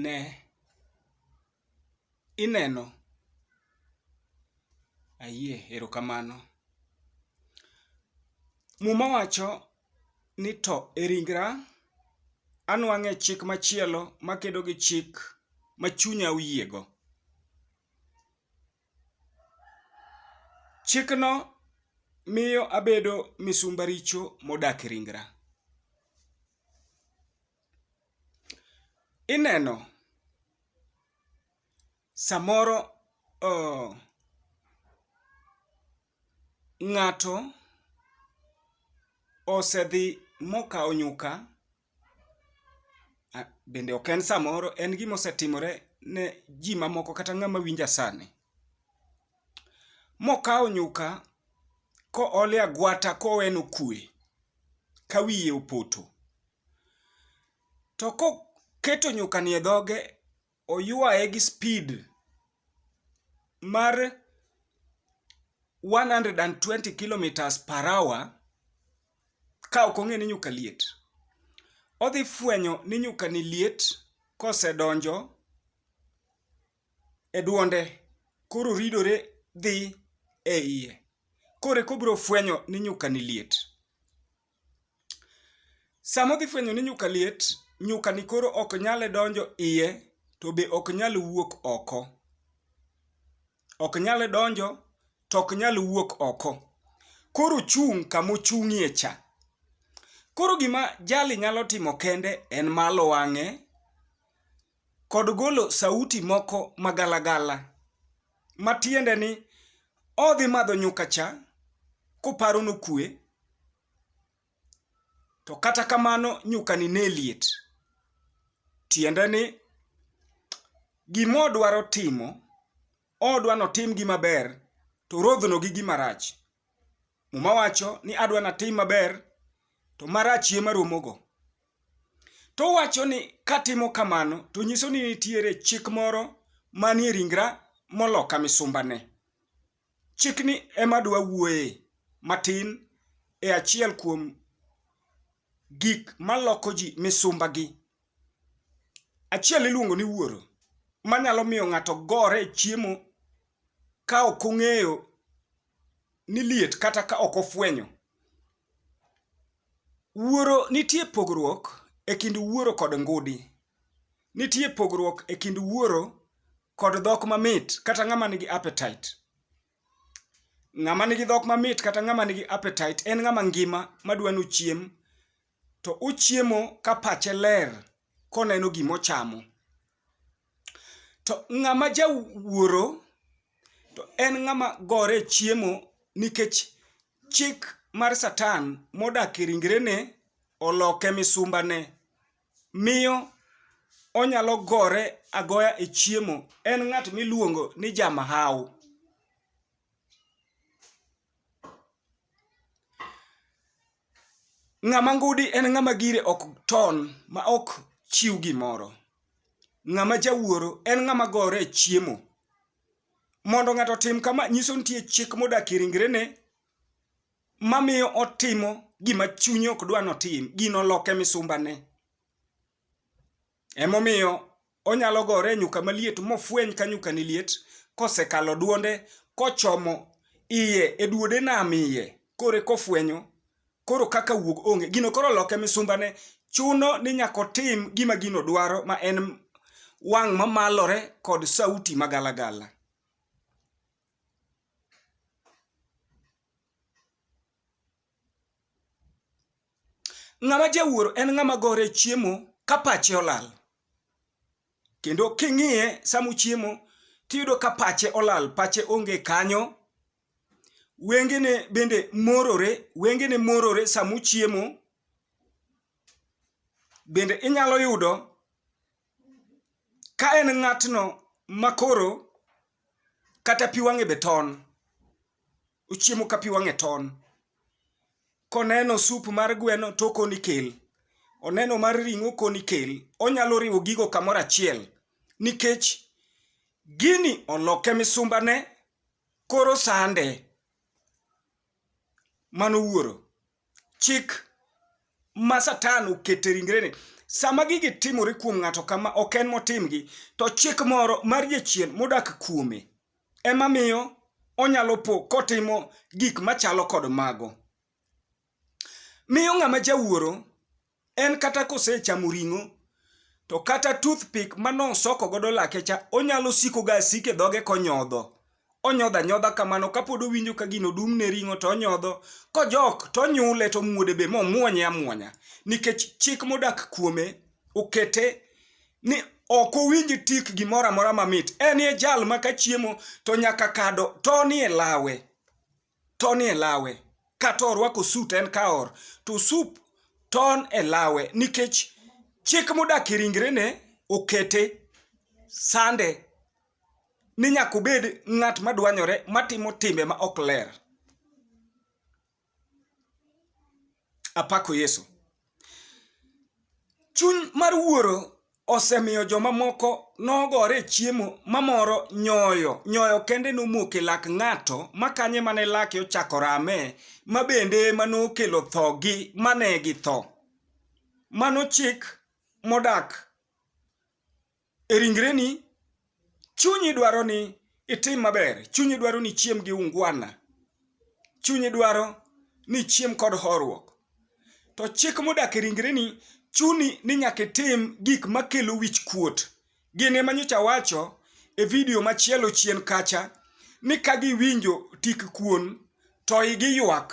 Ne, ineno. Ayie, erokamano. Muma wacho ni to e ringra anwang'e chik machielo makedo gi chik ma chunya oyiego. Chikno miyo abedo misumba richo modak e ringra. Ineno, samoro ng'ato osedhi mokawo nyuka Bende ok en samoro en gima osetimore ne ji mamoko kata ng'ama winja sani. Mokawo nyuka koole agwata kowe nokwe ka wiye opoto. To koketo nyukani e dhoge oywaye gi speed mar 120 kilometers per hour ka ok ong'e ni nyuka liet. Odhi fwenyo ni nyuka ni liet kosedonjo e duonde koro ridore dhi e iye. Koro eka obiro fwenyo ni nyuka ni liet. Sama odhi fwenyo ni nyuka liet, nyuka ni koro ok nyal donjo iye to be ok nyal wuok oko. Ok nyal donjo to ok nyal wuok oko. Koro ochung' kama ochung'ie cha. Koro gima jali nyalo timo kende en malo wang'e kod golo sauti moko ma galagala, ma tiende ni odhi madho nyuka cha koparo nokue, to kata kamano nyukani ne liet. Tiende ni gimodwaro timo, odwa notim gima ber to orodhno gi gima rach. Muma wacho ni adwa natim maber to marach ema romogo. To wacho ni katimo kamano to nyiso ni nitiere chik moro manie ringra moloka misumbane. Chikni ema dwa wuoye matin e achiel kuom gik maloko ji misumbagi. Achiel iluongo ni wuoro manyalo miyo ng'ato gore e chiemo ka ok ong'eyo ni liet kata ka ok ofwenyo. Wuoro nitie pogruok e kind wuoro kod ngudi. Nitie pogruok e kind wuoro kod dhok mamit kata ng'ama nigi appetite. Ng'ama nigi dhok mamit kata ng'ama nigi appetite en ng'ama ngima madwa nochiem to ochiemo ka pache ler koneno gima ochamo. To ng'ama jawuoro to en ng'ama gore e chiemo nikech chik mar satan modak e ringrene oloke misumbane miyo onyalo gore agoya e chiemo. En ng'at miluongo ni ja mahawu. Ng'ama ngudi en ng'ama gire ok ton ma ok chiw gimoro. Ng'ama jawuoro en ng'ama gore e chiemo. Mondo ng'ato otim kama nyiso ni nitie chik modak e ringrene mamiyo otimo gima chunye ok dwa ni otim. Gino oloke misumbane. Emomiyo onyalo gore e nyuka maliet mofweny ka nyuka ni liet kosekalo duonde kochomo iye e duode nam iye kore kofwenyo koro kaka wuog onge gino koro loke misumbane chuno ni nyaka otim gima gino dwaro ma en wang' mamalore kod sauti magalagala. Ng'ama jawuoro en ng'ama gore chiemo ka pache olal. Kendo king'iye sama uchiemo tiyudo ka pache olal, pache onge kanyo. Wengene bende morore, wengene morore sama uchiemo. Bende inyalo yudo ka en ng'atno ma koro kata pi wang'e be ton, ochiemo ka pi wang'e ton. Koneno sup mar gweno to okoni kel, oneno mar ring'o okoni kel. Onyalo riwo gigo kamoro achiel nikech gini oloke misumbane koro sande. mano wuoro chik ma satan okete ringrene sama gigi timore kuom ng'ato kama ok en motimgi to chik moro mar jachien modak kuome ema miyo onyalo po kotimo gik machalo kod mago miyo ng'ama jawuoro En kata kosechamo ring'o to kata toothpick ma nosoko godo lake cha onyalo siko ga asike dhoge konyodho. Onyodho anyodha kamano kapod owinjo ka gino dum ne ring'o to onyodho kojok to onyule to omuode be momuonye amuonya nikech chik modak kuome okete ni ok owinj tik gimoro amora mamit. En e jal ma ka chiemo to nyaka kado tonie lawe. ton e lawe kata orwako suit en ka or to sup ton e lawe nikech chik modak e ringrene okete sande ni nyaka obed ng'at madwanyore matimo timbe ma ok ler. apako Yesu. Chuny mar wuoro osemiyo joma moko nogore e chiemo mamoro nyoyo. Nyoyo kende nomuok e lak ng'ato makanye mane lake ochako rame ma bende ema nokelo thogi mane githo. Mano chik modak e ringreni, chunyi dwaro ni itim maber, chunyi dwaro ni ichiem gi ungwana, chunyi dwaro ni ichiem kod horuok. To chik modak e ringreni chuni ni nyaka itim gik makelo wich kuot. Gin ema nyocha awacho e vidio machielo chien kacha ni ka giwinjo tik kuon to igi ywak.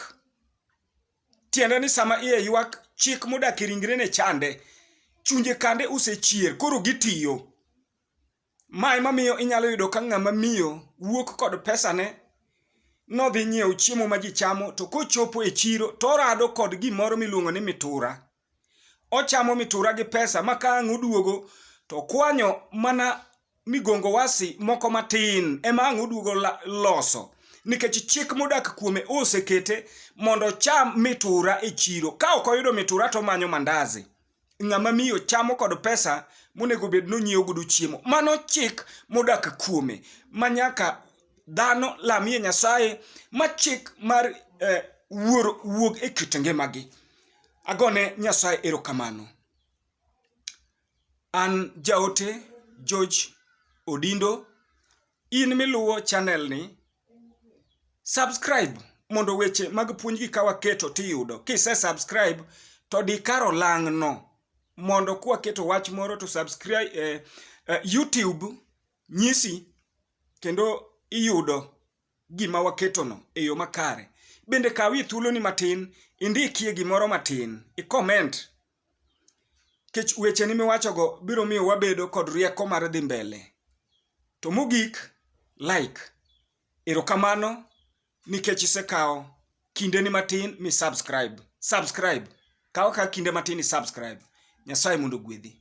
Tiende ni sama iye ywak, chik modak e ringre ne chande. Chunje kande usechier, koro gitiyo. Ma ema miyo inyalo yudo ka ng'ama miyo wuok kod pesane nodhi nyiewo chiemo ma ji chamo to kochopo e chiro torado kod gimoro miluongo ni mitura. ochamo mitura gi pesa ma ka ang' oduogo to okwanyo mana migongo wasi moko matin ema ang' oduogo la- loso nikech chik modak kuome osekete mondo ocham mitura e chiro ka ok oyudo mitura to omanyo mandazi ng'ama miyo chamo kod pesa monego bed ni onyiewo godo chiemo mano chik modak kuome ma nyaka dhano lamie nyasaye ma chik mar eh, wuoro wuog e kit ngimagi Agone Nyasaye erokamano. An jaote George Odindo, in miluwo channel ni, subscribe mondo weche mag puonjgi ka waketo tiyudo. Kise subscribe to di kar olang' no mondo kwaketo wach moro to subscribe, eh, eh, YouTube nyisi kendo iyudo. gima waketono e yo makare. Bende kawie thuoloni matin indikie gimoro matin, ikoment. Kech wecheni miwachogo biro miyo wabedo kod rieko mar dhi mbele. To mogik, like. Erokamano nikech isekawo kindeni matin mi subscribe. Subscribe. Kaw ka kinde matin i subscribe. Nyasaye mondo ogwedhi.